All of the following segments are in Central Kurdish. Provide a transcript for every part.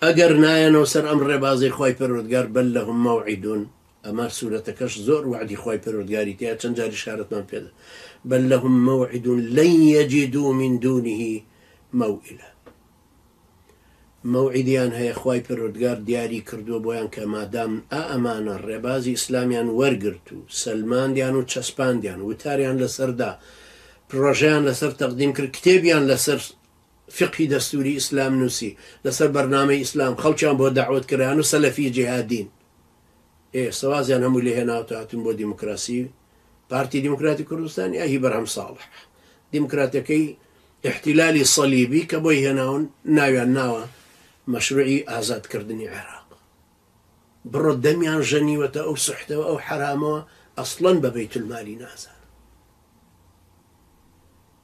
ئەگەر نایەنەوە سەر ئەم ڕێبازەی خوای پەروەردگار بەل لەهم مەوعیدون ئەمە سورەتەکەش زۆر وەعدی خوای پەروەردگاری تێیە چەند جاری شارەتمان پێدا بەل لەهم مەوعیدون لەن یەجیدو من دونه مەوئیلا مەوعیدیان هەیە خوای پەروەردگار دیاری کردووە بۆیان کە مادام ئا ئەمانە ڕێبازی ئیسلامیان وەرگرت و سەلماندیان و چەسپاندیان وتاریان لەسەردا پرۆژیان لەسەر تەقدیم کرد کتێبیان لەسەر فیقهی دەستوری ئیسلام نوسی لەسەر بەرنامەی ئیسلام خەڵکیان بۆ دەعوەت کران و سەلەفی جیهادین ئێ ئێستە وازیان هەمووی لێ هێناوتە هاتوون بۆ دیموکراسی پارتی دیموکراتی کوردستان یا هی بەرهەم ساڵح دیموکراتەکەی احتلالی صلیبی کە بۆی هێناون ناویان ناوە مەشروعی ئازادکردنی عێراق بڕۆ دەمیان ژەنیوەتە ئەو سحتەوە ئەو حرامەوە ئەسڵەن بە بەیتولمالی نازان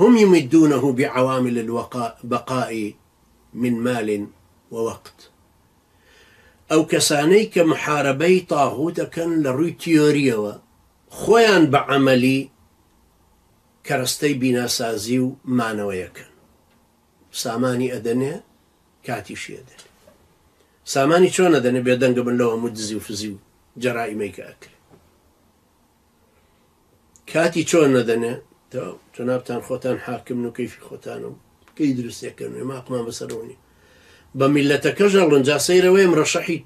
هم یمدونه بعوامل الوقاء بقاء من مال ووقت ئەو کەسانەی کە محارەبەی طاغوت ئەکەن لە ڕووی تیۆریەوە خۆیان بە عەمەلی کەرەستەی بیناسازی و مانەوەی ئەکەن سامانی ئەدەنێ کاتیشی ئەدەنێ سامانی چۆن ئەدەنێ بێدەنگە من لەو هەموو دزی و فزی و جەرائیمەی کە ئەکرێ. کاتی چۆن نەدەنێ تۆ جنابتان خۆتان حاکمن و کەیفی خۆتانە و کەی دروستێکەن وێ ماقمان بەسەرەوە نیە بە میلەتەکەش ئەڵن جا سەیرەوەی مرەشەحی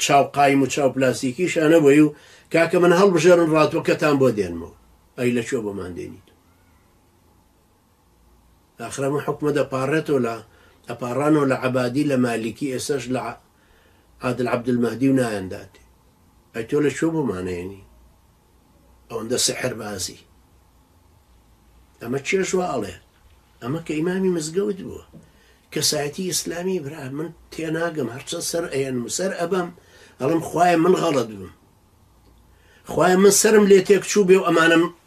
چاو قایم و چاو پلاستیکی شانەوەی و کاکە من هەڵبژێرن ڕاتوەکەتان بۆ دێنمەوە ئەی لە چۆ بۆمان دێنیت ئاخر ئەمە حوکمە دەپاڕێتەوە لە ئەپاڕانەوە لە عەبادی لە مالیکی ئێسەش لە عادل عەبدولمەهدی و نایان داتێ ئەی تۆ لە کوێ بۆمان ئەیەنی ئەوەندە سحر بازی ئەمە چێش وا ئەڵێ ئەمە کە ئیمامی مزگەوت بووە کەسایەتی ئیسلامی برا من تێناگەم هەرچەند سەر ئەیەنم و سەر ئەبەم ئەڵم خوایە من غەڵت بم خوای من سرم لێ تێک چوو بێ و ئەمانم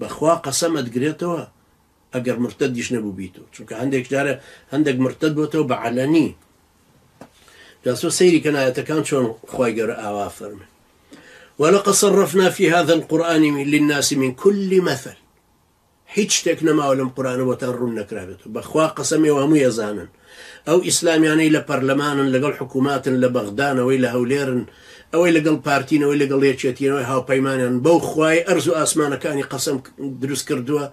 بەخوا قەسەم ئەتگرێتەوە ئەگەر مرتەدیش نەبوبیت و چونکە هەندێک جارە هەندێک مرتەد بۆتەوە بە عەلەنی جا سۆ سەیری کەن ئاەتەکان چۆن خی گەورە ئاوا فەرمێ ولقد صرفنا في هذا القرآن للناس من كل مثل هیچ شتێک نەماوە لەم قورانە بۆتان ڕوون نەکرابێت بەخوا قەسەمێ هەموو ێزانن ئەو ئیسلامیانەی لە پەرلەمانن لەگەڵ حکوماتن لە بەغدان ئەوەی لە هەولێرن ئەوەی لەگەڵ پارتین ئەوەی لەگەڵ یەکێتین ئەوەی هاوپەیمانیان بەو خوای ئەرز و ئاسمانەکانی قەسەم دروست کردووە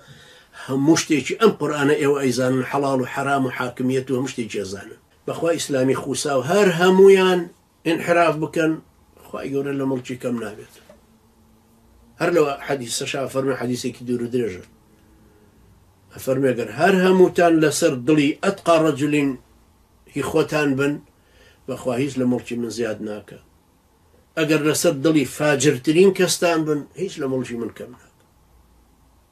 هەموو شتێکی ئەم قورئانە ئێوە ئەیزانن حەڵاڵ و حەرام و حاکمیەت و هەموو شتێکی ئەزانن بەخوا ئیسلامی خوساو هەر هەموویان ئینحراف بکەن خوای گەورە لە موڵکی کەم نابێت هەر لەوە حەدیسەشا فەرمی حەدیسێکی دوور و درێژە ئەفەرمێگەر هەر هەمووتان لەسەر دڵی ئەتقا ڕەجلین هی خۆتان بن بەخوا هیچ لە مڵکی من زیاد ناکە ئەگەر لەسەر دڵی فاجرترین کەستان بن هیچ لە مڵژی من کەم ناکە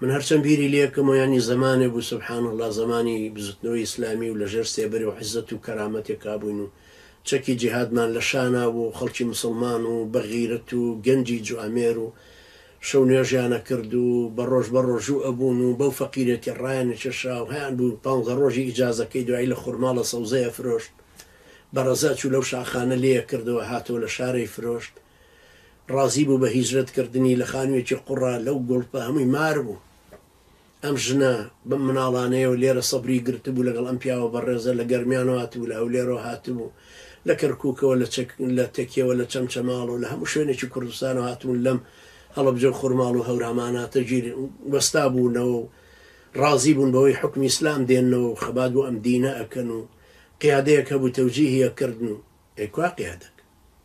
من هەرچەند بیری لێکم و یانی زەمانێ بوو سبحان اللە زەمانی بزوتنەوەی ئیسلامی و لەژێر سێبەری و عزەت و کەرامەتێکا بووین و چەکی جیهادمان لەشانا بوو و خەڵکی موسڵمان و بەغیرەت و گەنجی جوامێر و شەو نوێژیان ئەکرد و بەڕۆژ بەڕۆژوو ئەبوون و بەو فەقیرێتی ڕایانئەکێشا و هەیان بوو پانزە ڕۆژی ئیجازەکەی دوایی لە خورماڵە سەوزەی ئەفرۆشت بەڕەزا چوو لەو شاخانە لێی ئەکردەوە هاتەوە لە شارەی فرۆشت ڕازی بوو بە هیجرەت کردنی لە خانویەکی قوڕا لەو گوڵپە هەمووی مار بوو ئەم ژنە بەم مناڵانەیەوە لێرە سەبری گرتبوو لەگەڵ ئەم پیاوە بەڕێزە لە گەرمیانەوە هاتبوو لە هەولێرەوە هاتبوو لە کەرکوکەوە لە چەک لە تەکیەوە لە چەمچەماڵەوە لە هەموو شوێنێکی کوردستانەوە هاتبوون لەم هەڵەبجە و خورماڵ و هەوراماناتە گیر وەستا بوونەوە و ڕازی بوون بەوەی حکمی ئیسلام دێنەوە و خەبات بۆ ئەم دینە ئەکەن و قیادەیەک هەبوو تەوجیهی ئەکردن و ئەی کوا قیادەک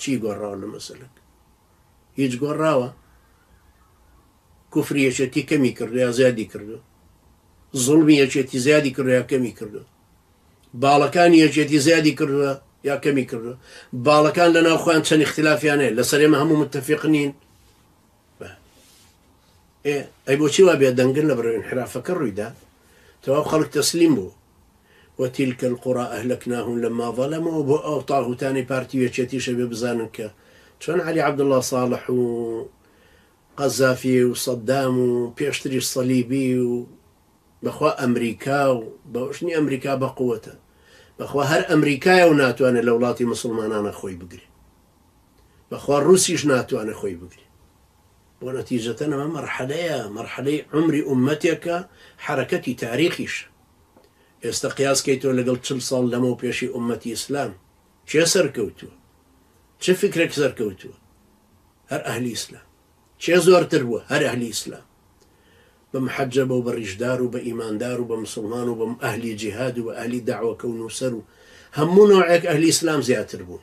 چی گۆڕاوە لە مەسەلەک هیچ گۆڕاوە کوفری یەکێتی کەمی کردو یا زیادی کردو زڵمی یەکێتی زیادی کردو یا کەمی کردو باڵەکانی یەکێتی زیادی کردووە یا کەمی کردو باڵەکان لە ناوخۆیان چەند اختلافیانەیە لەسەرێمە هەموو متتەفق نین بە ئێ ئەی بۆچی وا بێ دەنگن لە بەرەو انحرافەکە ڕوویدا تەواو خەڵک تەسلیم بوو وتیلک القرا اهلکناهم لما ظلموا بۆ ئەو تاهوتانی پارتی وێچێتیشە بێ بزانن کە چۆن علی عبدالله صالح و قەزافی و صدام و پێشتری صلیبی و بەخوا ئەمریکا و بەشنی ئەمریکا بەقوەتە بەخوا هەر ئەمریکایە و ناتوانێت لە وڵاتی مسلمانانە خۆی بگرێت بەخوا ڕوسیش ناتوانێ خۆی بگرێ بۆ نەتیجەتەن ئەمە مەرحەلەیە مەرحەلەی عومری ئومەتێکە حەرەکەتی تاریخیشە ئێستا قیاس کەیتەوە لەگەڵ چل ساڵ لەمەو پێشی ئومەتی ئیسلام کێ سەرکەوتووە چ فکرێک سەرکەوتووە هەر ئەهلی ئیسلام چێ زۆرتر بووە هەر ئەهلی ئیسلام بە محەجە بە و بە ڕیشدار و بە ئیماندار و بە مسلمان و بەم ئەهلی جیهاد و بە ئەهلی داوەکە و نووسەر و هەموو نەوەیەک ئەهلی ئیسلام زیاتر بوون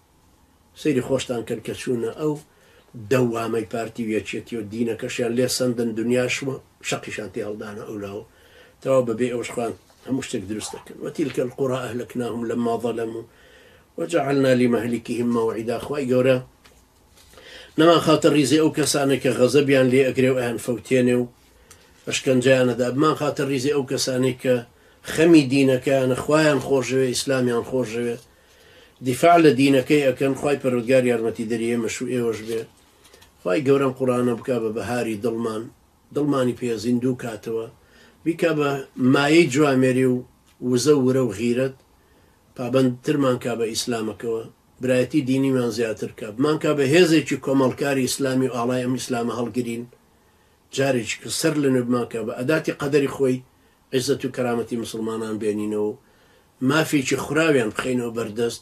سەیری خۆشتان کەن کە چوونە ئەو دە وامەی پارتی و یەکێتی و دینەکەشیان لێ سەندن دنیاش و شەقیشان تێ هەڵدانە ئەو لاوە تەواو بە بێ ئەوەش خۆیان هەموو شتێک دروست دەکەن وە تیلکە القرا اهلکناهم لما ظلموا وجعلنا لمهلكهم موعدا خوای گەورە نەمان خاتە ریزی ئەو کەسانە کە غەزەبیان لێ ئەگرێ و ئەیان فەوتێنێ و ئەشکەنجیانەدا بمان خاتە ریزی ئەو کەسانی کە خەمی دینەکەیانە خوایان خۆشەوێ ئیسلامیان خۆشەوێ دیفاع لە دینەکەی ئەکەن خوای پەروەردگار یارمەتیدەری ئێمەش و ئێوەش بێ خوای گەورە ئەم قوڕانە بکا بە بەهاری دڵمان دڵمانی پێ زیندوو کاتەوە بیکا بە مایەی جوامێری و وزە و ورە و غیرەت پابەند ترمان کا بە ئیسلامەکەوە برایەتی دینیمان زیاتر کا بمانکا بە هێزێکی کۆمەڵکاری ئیسلامی و ئاڵای ئەم ئیسلامە هەڵگرین جارێکی کە سەر لەنوێ بمانکا بە ئەداتی قەدەری خۆی عیزەت و کەرامەتی موسڵمانان بێنینەوە و مافێکی خوراویان بخەینەوە بەردەست،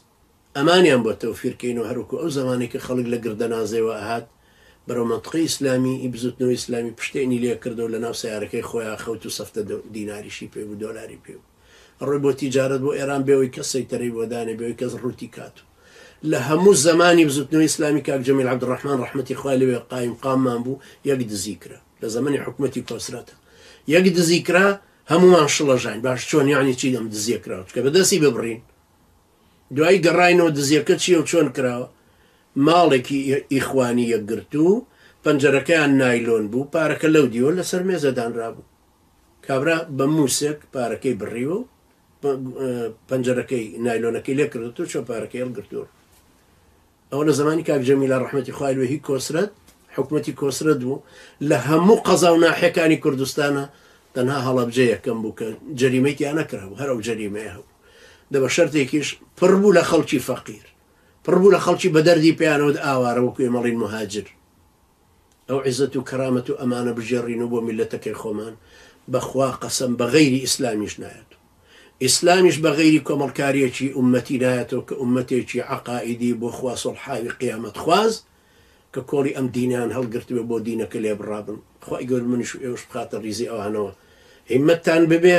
ئەمانیان بۆ تەوفیر کەینەوە هەر وەکو ئەو زەمانەی کە خەڵک لە گردەنازێوە ئەهات بەرەو مەنتقەی ئیسلامی ی بزوتنەوەی ئیسلامی پشتێنی لێ کرد و لەناو سەیارەکەی خۆیا خەوت و سەفتە دیناریشی پێ بوو دۆلاری پێ بوو ئەڕۆی بۆ تیجارەت بۆ ئێران بێ وەی کەس سەیتەرەی بۆ دانێ بێ وەی کەس ڕووتی کات و لە هەموو زەمانی بزوتنەوەی ئیسلامی کاک جەمیل عەبدوڕەحمان ڕەحمەتی خوای لێ بێ قایمقاممان بوو یەک دزی کرا. لە زەمەنی حکومەتی کۆسرەتە یەک دزی کرا هەمووان شڵەژاین باش چۆن یانی چی لەم دزیە کراوە چکە بەدەستی ببڕین دوایی گەڕینەوە دزیەکە چیە و چۆن کراوە ماڵێکی ئیخوانی یەکگرتو پەنجەرەکەیان نایلۆن بوو پارەکە لەو دیوە لەسەر مێزەدانرا بوو کابرا بە مووسێک پارەکەی بڕیوە و پەنجەرەکەی نایلۆنەکەی لێکردێت و چۆ پارەکەی هەڵگرتووە ئەوە لە زەمانی کاک جەمیلە ڕەحمەتی خوای لوێ هی کۆسرەت حکومەتی کۆسرەت بوو لە هەموو قەزا و ناحیەکانی کوردستانا تەنها هەڵەبجە یەکەم بوو کە جەریمەی تیا نەکرا بوو هەر ئەو جەریمەیە هەبوو دە بە شەرتێکیش پڕ بوو لە خەڵکی فەقیر پڕ بوو لە خەڵکی بە دەردی پێیانەوت ئاوارە وەکوێ مەڵین مهاجر ئەو عیزەت و کەرامەت و ئەمانە بگێڕین و بۆ میللەتەکەی خۆمان بەخوا قەسەم بە غەیری ئیسلامیش نایەت و ئیسلامیش بە غەیری کۆمەڵکاریەکی ئوممەتی نایەتەوە کە ئوممەتێکی عەقائیدی بۆ خوا سوڵحاوی قیامەت خواز کە کۆڵی ئەم دینەیان هەڵگرتبێ بۆ دینەکە لێبڕابن خوای گەورە منیش و ئێوەش بخاتە ڕیزی ئەوانەوە هیممەتتان ببێ.